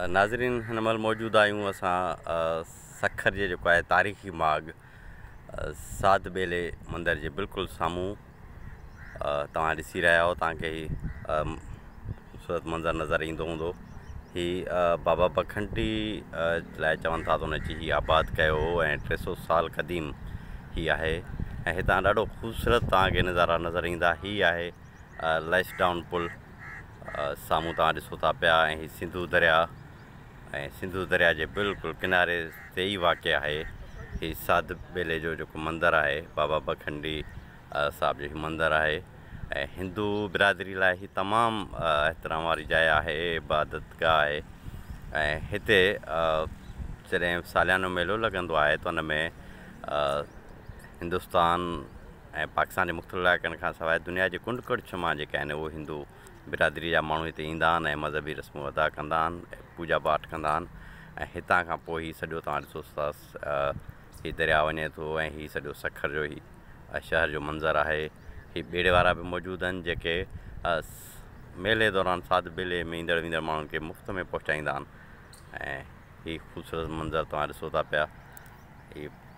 ناظرين هن مهل موجود آهيون اسان سکر جي جيڪو آهي تاريخي ماڳ ساڌ ٻيلي مندر جي بلڪل سامهون توهان ڏسي رهيا آهيو توهان کي هي خوبصورت منظر نظر ايندو هوندو هي بابا پکنڊي لاء چون ٿا ته ان چي هي آباد ڪيو هو ۽ ٽي سو سال قديم هي آهي ۽ هتان ڏاڍو خوبصورت توهان کي نظارا نظر ايندا هي آهي ليس ڊائون پل سامهون توهان ڏسو ٿا پيا ۽ هي سنڌو درياء ۽ سنڌو درياء جي بلڪل ڪناري تي ئي واقع آهي هي ساڌ ٻيلي جو جيڪو مندر آهي بابا بکنڊي صاحب جو هي مندر آهي ۽ هندو برادري لاء هي تمام احترام واري جاء آهي عبادت گاهه آهي ۽ هتي جڏهن ساليانو ميلو لڳندو آهي ته ان ۾ هندوستان ۽ پاڪستان جي مختلف علائقن کان سواء دنيا جي ڪنڊ ڪڙڇ مان جيڪي آهن اهي هندو برادري جا ماڻهو هتي ايندا آهن ۽ مذهبي رسمون ادا ڪندا آهن پوڄا پاٺ ڪندا آهن ۽ هتان کان پوء هي سڄو توهان ڏسو ٿا هي درياء وڃي ٿو ۽ هي سڄو سکر جو هي شهر جو منظر آهي هي ٻيڙي وارا به موجود آهن جيڪي ميلي دوران ساڌ بيلي ۾ ايندڙ ويندڙ ماڻهن کي مفت ۾ پهچائيندا آهن ۽ هي خوبصورت منظر توهان ڏسو ٿا پيا هي